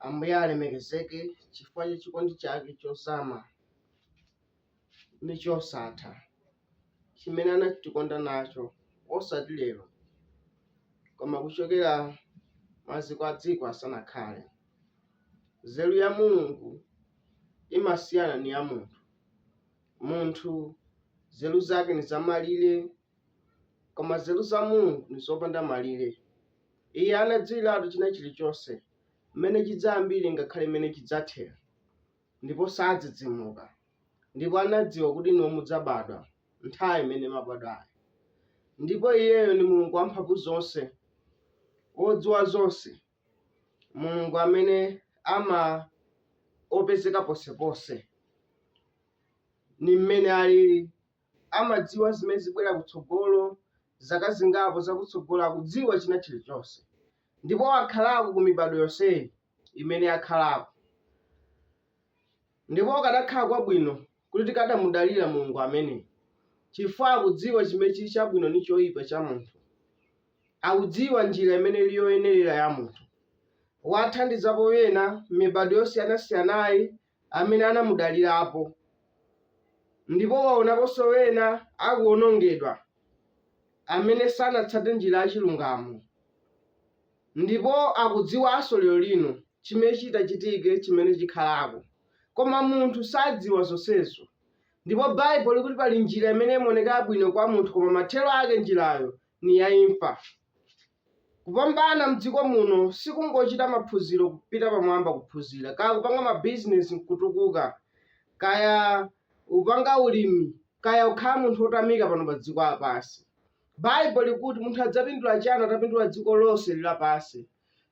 Ambuye alemekezeke chifukwa cha chikondi chake chozama ndi chosatha chimene anatikonda nacho, osati lero, koma kuchokera maziko a dziko asanakhale. Nzeru ya Mulungu imasiyana ni ya munthu. Munthu nzeru zake ni zamalire Koma nzeru za Mulungu ni zopanda malire. Iye anadziwiratu china chilichonse, mmene chidzayambire ngakhale mmene chidzathera. Ndipo sadzidzimuka. Ndipo anadziwa kuti inuyo mudzabadwa nthawi imene mwabadwayo. Ndipo iyeyo ni Mulungu Wamphamvuzonse, wodziwa zonse, Mulungu amene ama opezeka ponseponse. Ni mmene alili. amadziwa zimene zibwera kutsogolo, zaka zingapo zakutsogolo, akudziwa china chilichonse. Ndipo wakhalako ku mibadwo yonseyi imene yakhalako. Ndipo kadakhala kwabwino kuti tikadamudalira Mulungu ameneyo, chifukwa akudziwa chimene chili chabwino ndi choyipa cha munthu. Akudziwa njira imene ili yoyenerera ya munthu. Wathandizapo ena m'mibadwo yosiyanasiyanayi amene anamudalirapo, ndipo waonaponso ena akuwonongedwa amene sanatsate njira ya chilungamo, ndipo akudziwanso lero lino chimene chitachitike chimene chikhalako. Koma munthu sadziwa zonsezo. Ndipo Bible likuti pali njira imene imaoneka yabwino kwa munthu koma mathero ake njirayo ni ya imfa. Kupambana m'dziko muno si kungochita maphunziro, kupita pamwamba kuphunzira, kaya kupanga mabizinesi n'kutukuka, kaya upanga ulimi, kaya ukhala munthu wotamika pano pa dziko lapansi. Bible likuti munthu adzapindula chani atapindula dziko lonseli lapansi,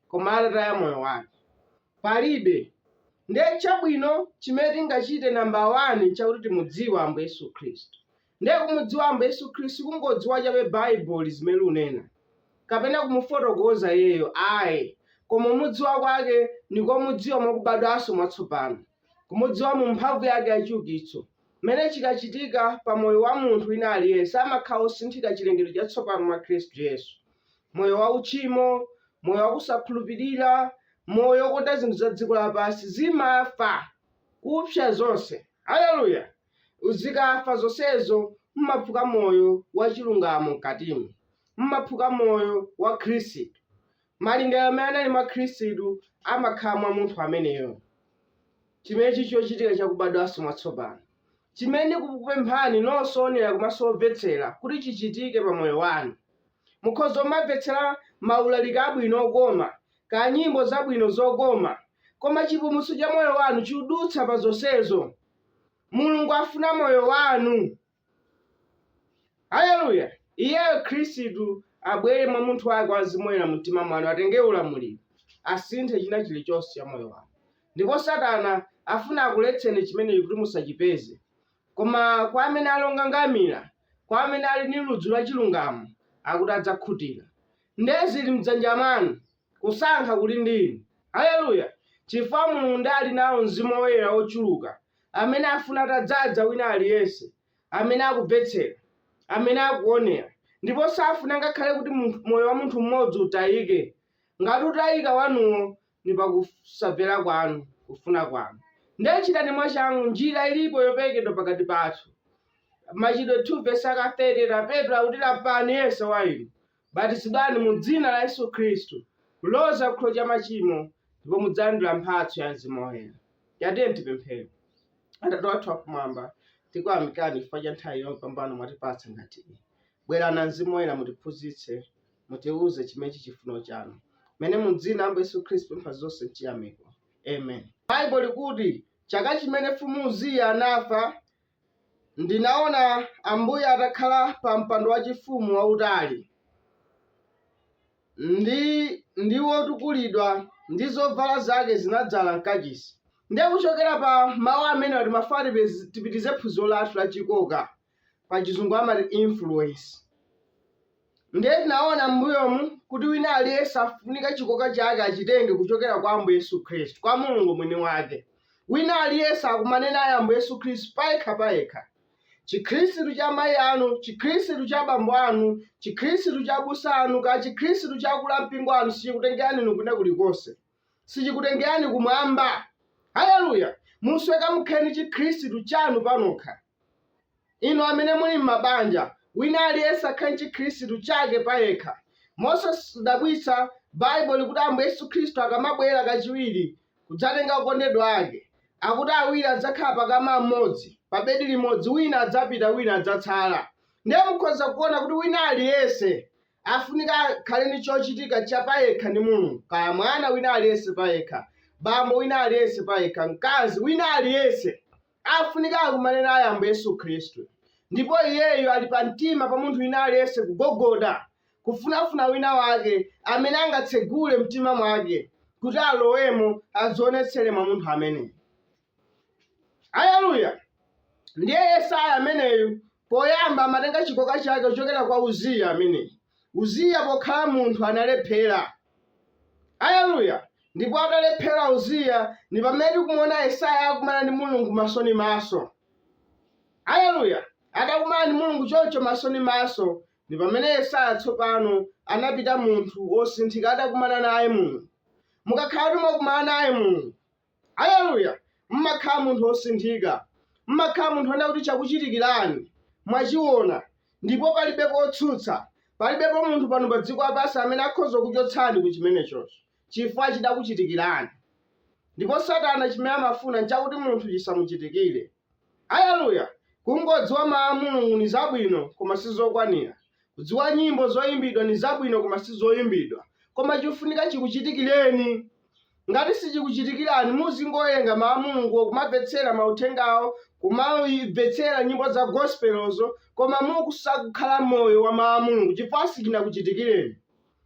koma atataya moyo wake? Palibe! Ndiye chabwino chimene tingachite namba wani n'chakuti timudziwe Ambuye Yesu Khristu. Ndiye kumudziwa Ambuye Yesu Khristu sikungodziwa chabe Bible zimene likunena, kapena kumufotokoza Iyeyo ayi, koma kumudziwa kwake ndi komudziwa mwa kubadwanso mwatsopano, kumudziwa mu mphamvu yake ya chiukitso, m'mene chikachitika pa moyo wa munthu wina aliyense amakhala osinthika chilengedwe chatsopano mwa Khristu Yesu, moyo wa uchimo, moyo wa kusakhulupirira, moyo wokonda zinthu za dziko lapansi zimafa, kupsa zonse. Hallelujah! Zikafa zonsezo mumaphuka moyo wa chilungamo mkatimo. Mumaphuka moyo wa Khristu. Malingaliro amene anali mwa Khristu amakhala mwa munthu ameneyo. Chimene chili chochitika cha kubadwanso mwatsopano, chimene ndikukupemphani nonse oonera komanso omvetsera kuti chichitike pa moyo wanu. Mukhoza kumamvetsera maulaliki abwino okoma, kaya nyimbo zabwino zokoma, koma chipulumutso cha moyo wanu chidutsa pa zonsezo. mulungu afuna moyo wanu haleluya iyeyo khristu abwere mwa umunthu wake wa Mzimu Woyera mumtima mwanu atenge ulamuliro asinthe china chilichonse cha moyo wanu ndipo satana afuna akuletseni chimenechi kuti musachipeze koma kwa amene ali okangamira kwa amene ali ndi ludzu la chilungamo akuti adzakhutira ndiye zili mdzanja mwanu Kusankha kuli ndi inu. Haleluya! Chifukwa Mulungu ndiye ali nawo Mzimu Woyera wochuluka, amene afuna atadzadza wina aliyense, amene akumvetsera, amene akuwonera, ndipo safuna ngakhale kuti moyo wa munthu mmodzi utayike. Ngati utayika wanuwo, ndi pa kusamvera kwanu, kufuna kwanu. Ndiye chitani mwachangu, njira ilipo yoperekedwa pakati pathu. Machitidwe 2 vesi aka 38 Petro akuti, Lapani, yense wa inu, Batizidwani mu Dzina la Yesu Khristu kuloza kuchikhululukiro cha machimo, ndipo mudzalandira mphatso ya Mzimu Woyera. Tatiyeni tipemphere. Atate wathu akumwamba, tikuyamikani chifukwa cha nthawi yopambana mwatipatsa ngati iyi. Bwerani Mzimu Woyera mutiphunzitse, mutiuze chimene chili chifuno chanu. Mene mu Dzina la Ambuye Yesu Khristu pempha zonse mchiyamiko. Amen. Baibulo likuti, Caka cimene Mfumu Uziya anafa, Ndinaona Ambuye atakhala pa mpando wachifumu wautali ndi wotukulidwa ndi zovala zake zinadzala mkachisi. Ndiye kuchokera pa mawu amenewa timafuna tipitirize phunziro lathu la chikoka pa chizungu amati influence. Ndiye tinaona m'mbuyomu kuti wina aliyense akufunika chikoka chake achitenge kuchokera kwa Ambuye Yesu Khristu, kwa Mulungu mwini wake. Wina aliyense akumane naye Ambuye Yesu Khristu payekha payekha. Chikhristu cha mayi anu, chikhristu cha bambo anu, chikhristu cha abusa anu, kaya chikhristu cha akulu ampingo anu sichikutengerani inu kwina kulikonse. Sichikutengerani kumwamba. Haleluya! Mufunika mukhale ndi chikhristu chanu panokha. Inu amene muli mmabanja, wina aliyense akhale ndi chikhristu chake payekha. Mosadabwitsa, Baibulo likuti Ambuye Yesu Khristu akamabwera kachiwiri kudzatenga okondedwa Ake, akuti awiri adzakhala pa kama mmodzi, pa bedi limodzi, wina adzapita wina adzatsala. Ndiye mukhoza kuona kuti wina aliyense afunika akhale ndi chochitika cha payekha ndi Mulungu, kaya mwana wina aliyense payekha, bambo wina aliyense payekha, mkazi wina aliyense. afunika akumane naye Ambuye Yesu Khristu, ndipo iyeyu ali pa mtima pa munthu wina aliyense kugogoda, kufunafuna wina wake amene angatsegule mtima wake kuti alowemo adzionetsere mwa munthu ameneyo. Aleluya! Ndiye Yesaya ameneyu poyamba amatenga chikoka chake kuchokera kwa Uziya ameneyi. Uziya pokhala munthu analephera, Aleluya! Ndipo atalephera Uziya, ndi pamene tikumuona Yesaya akumana ndi Mulungu maso ndi maso. Aleluya! Atakumana ndi Mulungu choncho maso ndi maso, ndi pamene Yesaya tsopano anapita munthu wosinthika atakumana naye Mulungu. Mukakhala kuti mwakumana naye Mulungu, Aleluya! Mumakhala munthu wosinthika. Mumakhala munthu wonena kuti chakuchitikirani mwachiona ndipo palibe kotsutsa. Palibepo munthu pano pa dziko lapansi amene akhoza kuchotsani ku chimenechocho chifukwa chidakuchitikirani. Ndipo Satana chimene amafuna n'chakuti munthu chisamuchitikire. Aleluya! Kungodziwa Mawu a Mulungu ni zabwino, koma si zokwanila. Kudziwa nyimbo zoimbidwa ni zabwino koma si zoimbidwa. Koma cofunika cikucitikileni. Ngati sicikucitikilani, muzingowelenga Mawu a Mulunguwo, kumamvetsela mauthengawo, kumamvetsela nyimbo za gosipelozo, koma nkusakukhala moyo wa Mawu a Mulungu, cifukwa sicinakucitikileni.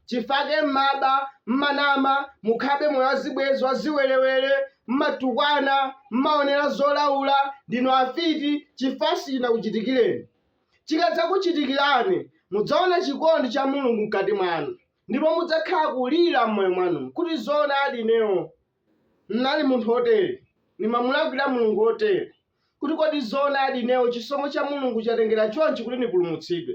chifukwa chake mmaba mmanama mukhalabe moyo wazibwezi waziwelewele mmatukwana mmaonera zolaula ndinu afiti chifukwa sichinakuchitikireni chikadzakuchitikirani mudzaona chikondi cha mulungu mkati mwanu ndipo mudzakhala kulira mmoyo mwanu kuti zoonadi ineyo N'nali munthu wotere, nimamulakwila Mulungu wotere, kuti kodi zoonadi ineyo cisomo ca Mulungu catengela conci kuti nipulumutsidwe?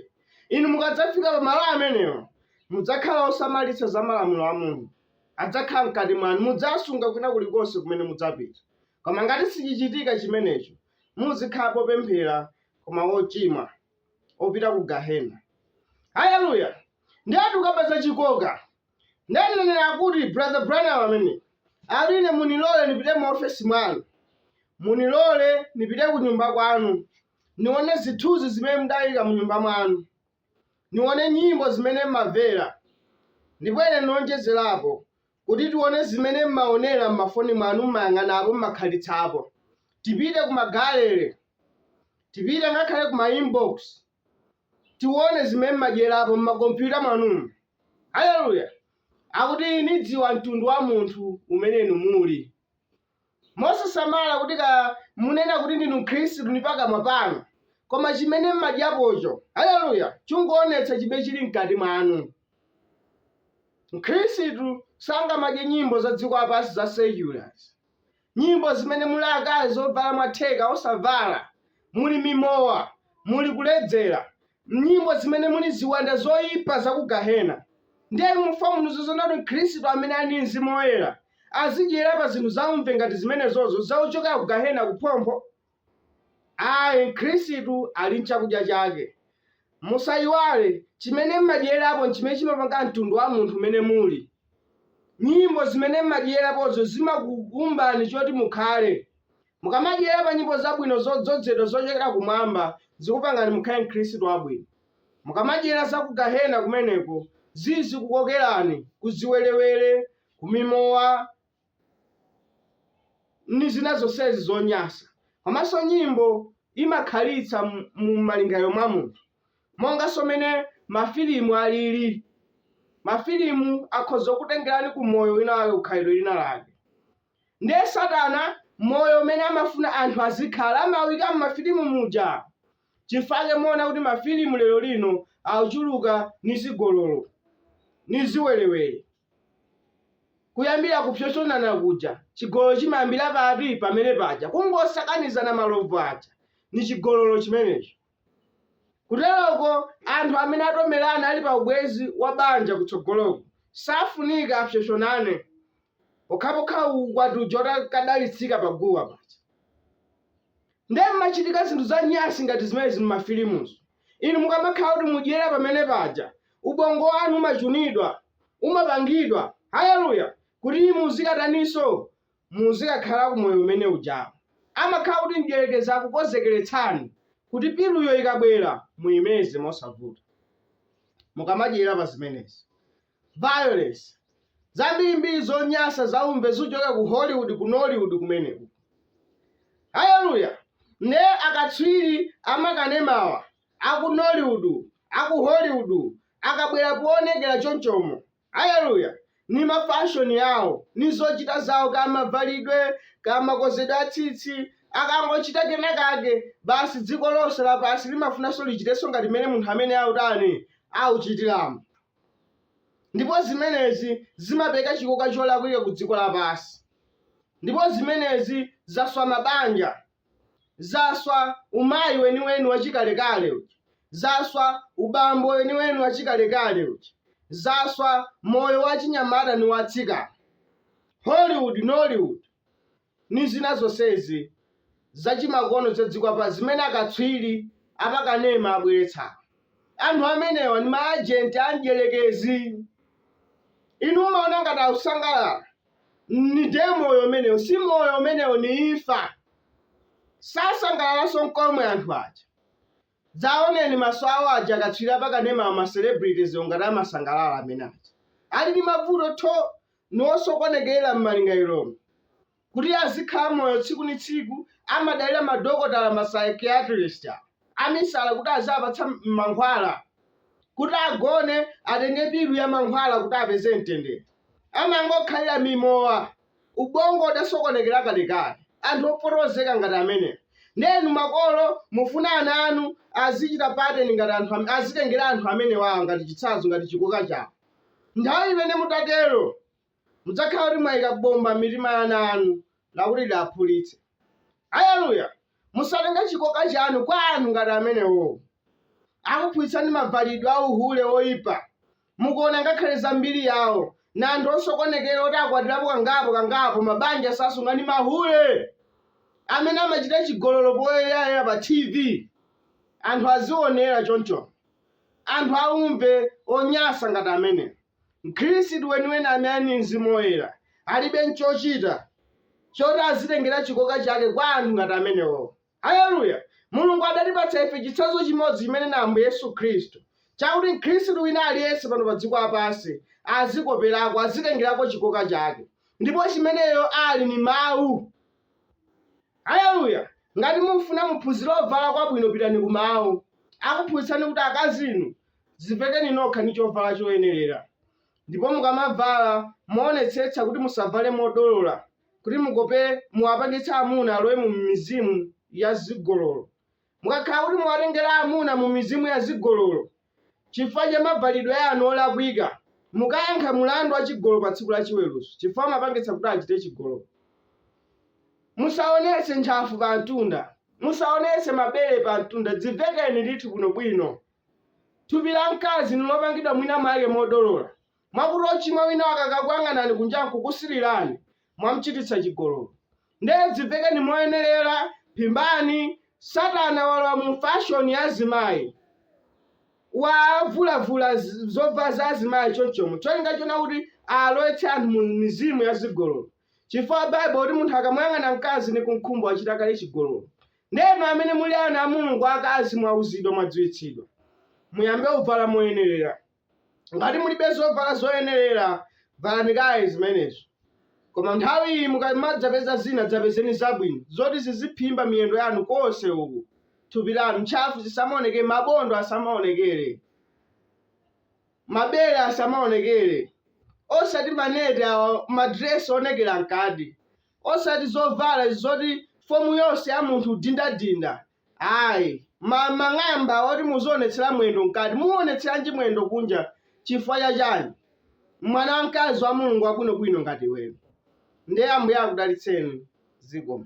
Inu mukadzafika pa malo amenewo, mudzakhala osamalitsa za malamulo a Mulungu. Adzakhala mkati mwanu. Mudzasunga kwina kulikonse kumene mudzapita. Koma ngati sicicitika cimeneco, muzikhala popemphela koma wocimwa, wopita ku Gahena. Haleluya! Ndiye tukamba za cikoka! Ndiye mneneri akuti, Brother Branham ameneyu akuti ine munilole nipite mu ofesi mwanu, munilole nipite ku nyumba kwanu, nione zithunzi zimene mudayika mu nyumba mwanu, nione nyimbo zimene mmamvera, ndipo ine nionjezerepo kuti tione zimene mmaonera mmafoni mwanu, mmayang'anapo, mmakhalitsapo. Tipite ku magalere, tipite ngakhale ku ma inbox, tione zimene mmadyerapo mmakompyuta mwanu. Haleluya! Akuti, Nidziwa mtundu wa munthu umene inu muli. Mosasamala kuti kaya munena kuti ndinu Mkhristu ndi pakamwa panu, koma chimene mmadyapocho, haleluya, chungoonetsa chimene chili mkati mwanu. Mkhristu sangamadye nyimbo za dziko lapansi za seculars. nyimbo zimene muli akazi ovala mwatheka osavala, muli mimowa, muli kuledzera, mnyimbo zimene muli ziwanda zoipa za ku gahena. Ndiye inu mufuna mundiuze zoona kuti Mkhristu amene ali ndi Mzimu Woyera azidyera pa zinthu zaumve ngati zimenezozo zakuchokera ku gahena kuphompho? Ayi, Mkhristu ali n'chakudya chake. Musaiwale, chimene m'madyerapo n'chimene chimapanga mtundu wa munthu umene muli. Nyimbo zimene m'madyerapozo zimakuumbani choti mukhale. Mukamadyera pa nyimbo zabwino zodzozedwa zochokera kumwamba, zikupangani mukhale Mkhristu wabwino. Mukamadyera za ku Gahena kumeneko, zizikukokerani ku ziwerewere, ku mimowa, ndi zina zonsezi zonyasa. Komanso nyimbo imakhalitsa mu malingaliro mwa munthu, monganso mene mafilimu alili. Mafilimu akhoza kukutengerani ku moyo wina wake, ku khalidwe lina lake. Ndiye Satana moyo umene amafuna anthu azikhala amawuika m'mafilimu muja. Chifake muona kuti mafilimu lero lino akuchuluka ni zigololo, ni ziwerewere. Kuyambira kupsopsonana kuja. Chigololo chimayambira pati? Pamene paja. Kungosakanizana malovu aja ndi chigololo chimenecho. Kuteroko anthu amene atomerana ali pa ubwenzi wa banja kutsogoloko safunika apsopsonane pokhapokha ukwati uja utakadalitsika pa guwa paja. Ndiye m'machitika zinthu za nyansi ngati zimenezi m'mafilimuzo. Inu mukamakhala kuti mudyera pamene paja, ubongo wanu umachunidwa, umapangidwa, haleluya, kuti muzikataninso? Muzikakhala ku moyo umene ujawo. Amakhala kuti mdierekezi akukonzekeretsani kuti piluyo ikabwera muimeze mosavuta, mukamadyera pa zimenezi. violence zambirimbiri zonyasa zaumve zikuchokera ku hollywood ku nollywood kumeneku haleluya ne akatswiri amakanemawa aku nollywood aku hollywood akabwera poonekera chonchomo haleluya ni mafashoni yawo ni zochita zawo kamavalidwe kamakonzedwe a tsitsi akangochita kenakake basi dziko lonse lapansi limafunanso lichitenso ngati mmene munthu amene autani auchitiramo ndipo zimenezi zimapereka chikoka cholakwika ku dziko lapansi, ndipo zimenezi zaswa mabanja, zaswa umayi weniweni wachikalekale uja, zaswa ubambo weniweni wachikalekale uja, zaswa moyo wachinyamata ndi wachitsikana. Hollywood, Nollywood. ni zina zonsezi zachimakono za dziko lapansi zimene akatswiri a pakanema abweretsa. Anthu amenewa ni maajenti a Mdyerekezi. Inu m'maona ngati akusangalala ni ndiye moyo umenewo. Si moyo umenewo, ni imfa. Sasangalalanso n'komwe anthu aja. Dzaoneni maso awo aja akatswiri apakanemawa ma celebrities ngati amasangalala amene aja ali ndi mavuto tho ni osokonekera mmalingaliromu kuti azikhala moyo tsiku ni tsiku amadalira madokotala ma psychiatrist amisala kuti aziapatsa mankhwala kuti agone atenge pilu ya mankhwala kuti apeze mtendere amangokhalira mimowa ubongo udasokonekera kalekale anthu opotozeka ngati amenewo ndiye inu makolo mufuna ana anu azichita pattern ngati anthu am- azitengera anthu amenewawa ngati chitsanzo ngati chikoka chawo nthawi imene mutatero mudzakhala kuti mwayika bomba mitima ya ana anu lakuti lidzaphulitse aleluya musatenge chikoka chanu kwa anthu ngati amenewowo akuphunzitsani mavalidwe a uhule oyipa Mukuona ngakhale za mbiri yawo na anthu osokonekera oti akwatirapo kangapo kangapo mabanja sasunga ni mahule amene amachita chigololo poyerayera pa TV anthu azionera choncho anthu aumve onyasa ngati amenewo mkhristu weniweni amene ali ni mzimu woyera alibe nchochita choti azitengera chikoka chake kwa anthu ngati amenewowo. Aleluya! Mulungu adatipatsa ife chitsanzo chimodzi chimene ni Ambuye Yesu Khristu, chakuti mkhristu wina aliyense pano pa dziko lapansi azikoperako, azitengerako chikoka chake, ndipo chimeneyo ali ni Mawu. Aleluya! Ngati mufuna muphunzire uvala kwabwino pitani ku Mawu. Akuphunzitsani kuti akazi inu, dzivekeni nokha ni chovala choyenerera, ndipo mukamavala, muonetsetse kuti musavale modolola, kuti mukope, muwapangitse amuna alowe mu mizimu ya zigololo. Mukakhala kuti muwatengera amuna mu mizimu ya zigololo chifukwa cha mavalidwe anu olakwika, mukayankha mulandu wa chigololo pa tsiku la chiweruzo chifukwa mwapangitsa kuti achite chigololo. Musaonetse ntchafu pa mtunda, musaonetse mabere pa mtunda, dzivekeni ndithu bwinobwino. Thupi la mkazi ni lopangidwa mwina mwake modolola, Mwakuti ochimwa wina akakakuyang'anani kunjaku kusirirani, mwamchititsa chigololo. Ndiye dzivekeni moyenerera, phimbani, satana walowa mu fashoni ya azimayi. Wavulavula zovala za azimayi chonchomo cholinga chona kuti alowetse anthu mu mizimu ya zigololo. Chifukwa bible kuti munthu akamuyang'ana mkazi ni kumkhumba wachita kale chigololo. Ndiye inu amene muli ana a Mulungu akazi mwauzidwa mwadziwitsidwa. Muyambe uvala moyenerera. Ngati mulibe zovala zoyenerera, valani kaye zimenezo. Koma nthawi iyi mukamadzapeza zina, dzapezeni zabwino, zoti ziziphimba miyendo yanu konse uku, thupi lanu, ntchafu zisamaonekere, mabondo asamaonekere, mabere asamaonekere, osati maneti awa, madiresi oonekera mkati, osati zovala zoti fomu yonse ya munthu dindadinda, Ayi. Ma mang'amba oti muzionetsera mwendo mkati. Muuonetseranji mwendo kunja chifukwa cha chani? Mwana wamkazi wa Mulungu wabwinobwino ngati iweyo. Ndiye Ambuye akudalitseni. Zikomo.